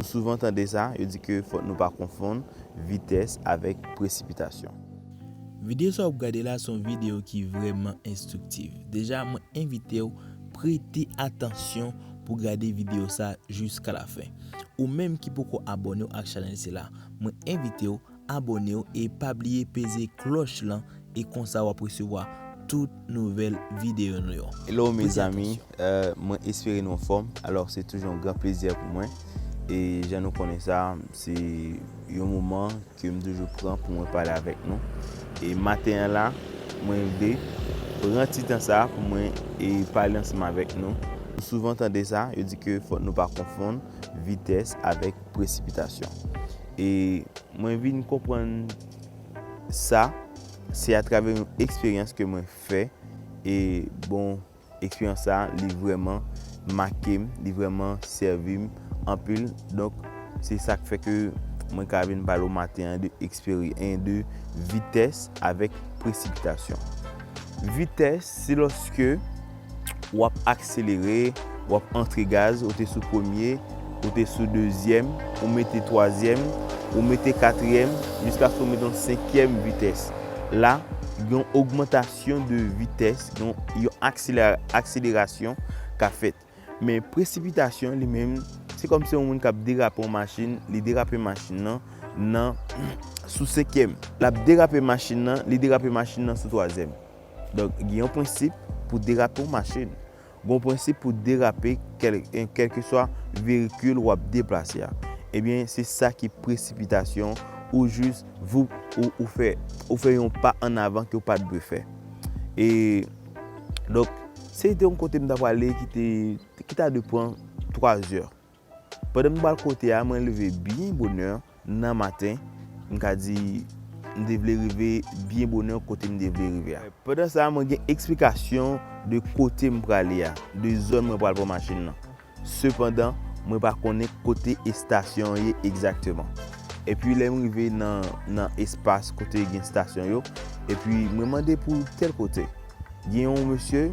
Nou souvan tande sa, yo di ke fòk nou pa konfonn vitès avèk presipitasyon. Videyo sa w ap gade la se yon videyo ki vrèman enstriktiv. Deja mwen envite w prete atansyon pou w gade videyo sa jiska lafen. Ou menm ki poko abòne w ak chanèl sila, mwen envite w. abonew e pa bliye peze kloch lan e konsa wap resevwa tout nouvel video nou yo. Hello mes amis, mwen espere nou anfòm, alors se toujou yon gran plezi pou mwen e jan nou konnen sa se yon moman ke m toujou pran pou mwen pale avèk nou e maten an la mwen vle pran ti tan sa pou mwen e pale ansanm avèk nou, nou souvan tande sa yo di ke fòk nou pa konfonn vitès avèk presipitasyon E mwen vin konprann sa, se atravè yon eksperyans ke mwen fè, e bon, eksperyans sa, li vreman make m, li vreman sèvi m anpil, donk, se sa k fè ke mwen ka vin pale w maten an de eksperi, en de vitès avèk presipitasyon. Vitès, se lòske. wap akselere, wap antre gaz, ou te sou premye, ou te sou dezyèm, ou mete twazyèm, ou mete katriyèm, jiskaske ou mete yon senkyèm vitès. La, gen yon ogmantasyon de vitès, yon akselerasyon ka fèt. Men presipitasyon li menm, se kòm se yon moun kap derape yon machin, li derape machin nan, nan sou senkyèm. Lap derape machin nan, li derape machin nan sou twazyèm. Donk, gen yon prensip pou derape yon machin. Gen yon prensip pou derape kèlkeswa verikil w ap deplase a. Ebyen, se sa ki presipitasyon ou jis voup ou fè ou fè yon pa an avan ke w pa t dwe fè. E, donk, se te yon kote m ta prale ki te ki ta dwe pran 3 zè. Pandan m pral kote a, mwen leve byen bonè nan maten, m ka di m te vle rive byen bonè kote m te vle rive a. Pandan sa, mwen gen eksplikasyon de kote m prale a, de zòn mwen pral pran machin nan. Sepandan, mwen pa konnen kote estasyon an ye egzakteman. Epi lè m rive nan espas kote gen estasyon yo, epi mwen mande pou tèl kote. Gen yon mesye.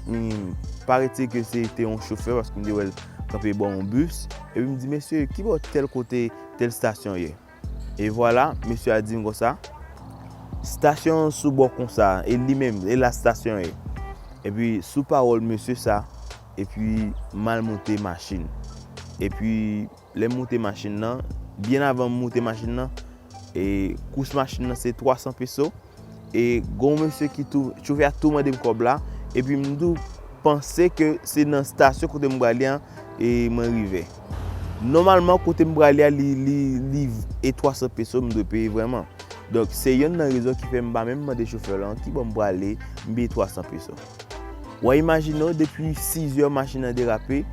M pare di ke se te yon chofè paske m te wè l kanpe bò yon bis. Epi m di, Mesye, ki bò tèl kote tèl stasyon ye? E vwala, mesye a di m konsa, Stasyon an sou bò konsa, e li menm, e la stasyon ye. Epi sou pawòl mesye sa, epi m al monte machin. Epi. Lè m moute machin nan, byen avan m moute machin nan, e kous machin nan se 300 peso, e gen yon mesye ki tou, chofè a tou mande m kòb la, epi m tou panse ke se nan stasyon kote m prale an e mwen rive. Nòmalman kote m prale a li e 300 peso m dwe peye vrèman. Donk se yonn nan rezon ki fè m pa menm mande chofè lan ki bò m prale, m peye 300 peso. Wa imajine w depi 6 zè machin nan derape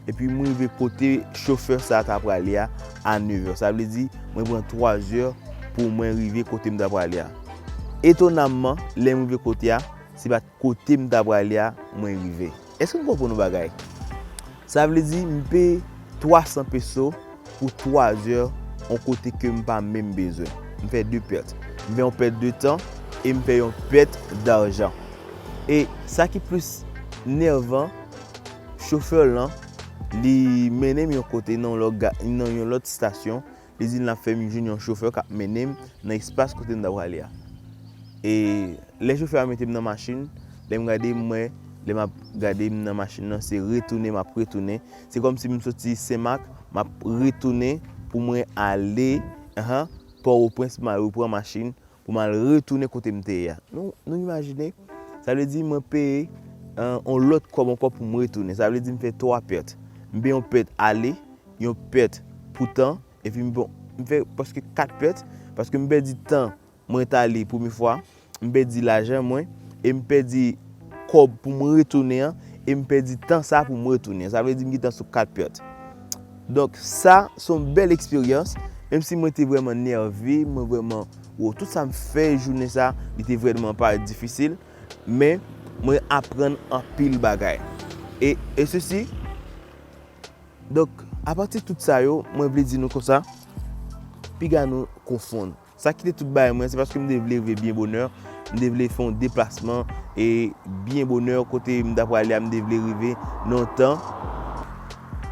epi m rive kote chofè sa ta prale a a 9 zè. Sa vle di mwen pran 3 zè pou mwen rive kote m ta prale a. Etonamman, lè m rive kote a, se pa t kote m ta prale a mwen rive. Èske n konprann yon bagay? Sa vle di m peye 300 peso pou 3 zè yon kote ke m pa menm bezwen. M fè 2 pèt. M fè yon pèt de tan e m fè yon pèt darjan. E sa ki plis nèvan, chofè lan li mennen m yon kote nan yon lòt stasyon Plezi l ap fè m jwenn yon chofè k ap mennen m nan espas kote m ta prale a. E lè chofè a mete m nan machin, lè m gade m wè, lè m ap gade m nan machin nan se retounen m ap retounen. Se kòmsi m soti Senmak m ap retounen pou mwen ale Pòtoprens pou m al repran machin pou m al retounen kote m te ye a. Nou imajine? Sa vle di mwen peye yon lòt kòb ankò pou m retounen. Sa vle di m fè 3 pèt. M fè yon pèt ale, yon pèt pou tan, epi m fè prèske 4 pèt, paske m pèdi tan mwen t ale premye fwa, m pèdi lajan mwen, e m pèdi kòb pou m retounen an, e m pèdi tan sa pou m retounen. Sa vle di m gen tan sou 4 pèt. Donk sa se yon bèl eksperyans, menm si mwen te vrèman nève, mwen vrèman wou, tout sa m fè jounen sa, li te vrèman pa difisil, men mwen aprann anpil bagay. E e sesi, donk apati tout sa yo, mwen vle di nou konsa, piga nou konfonn. Sa ki te tout bagay mwen, se paske m te vle rive byen bonè, m te vle fè yon deplasman e byen bonè kote m ta prale a m te vle rive nan yon tan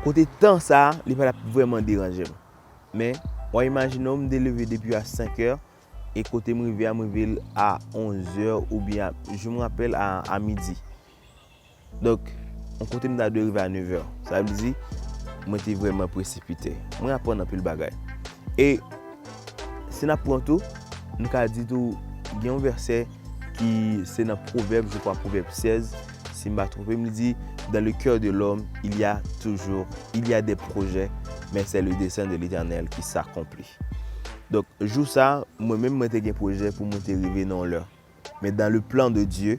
kote tan sa a li pa t ap vrèman deranje m. Men, w a imajine w m te leve depi a 5 è e kote m rive a m rive a 11 è oubyen a, je me rappelle, a midi. Donk, yon kote m ta dwe rive a nevè. Sa vle di, mwen te vrèman presipite. Mwen aprann anpil bagay. E, si n ap pran tou, nou ka di tou, gen yon vèsè ki se nan Pwovèb, je kwa Pwovèb 16, si m pa twonpe m, li di, Dans le cœur de l'homme, il y a toujours, il y a des projets, mais c'est le dessein de l'Éternel qui s'accomplit. Donk, jou sa a, mwen menm mwen te gen pwojè pou mwen te rive nan yon lè. Men dans le plan de Dieu,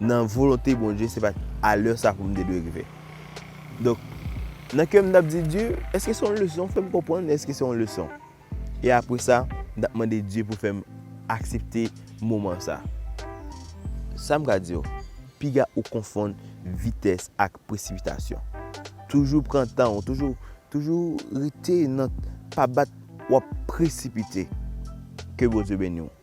nan volonte Bondye se pat a lè sa pou m te dwe rive. Donk, nan kè m t ap di Dye, èske se yon leson? Fè m konprann èske se yon leson. E apre sa, m t ap mande Dye pou fè m aksepte moman sa. Sa m ka di w, piga ou konfonn vitès ak presipitasyon. Toujou pran tan ou, toujou, toujou rete nan, pa bat w ap presipite. Ke Bondye beni w.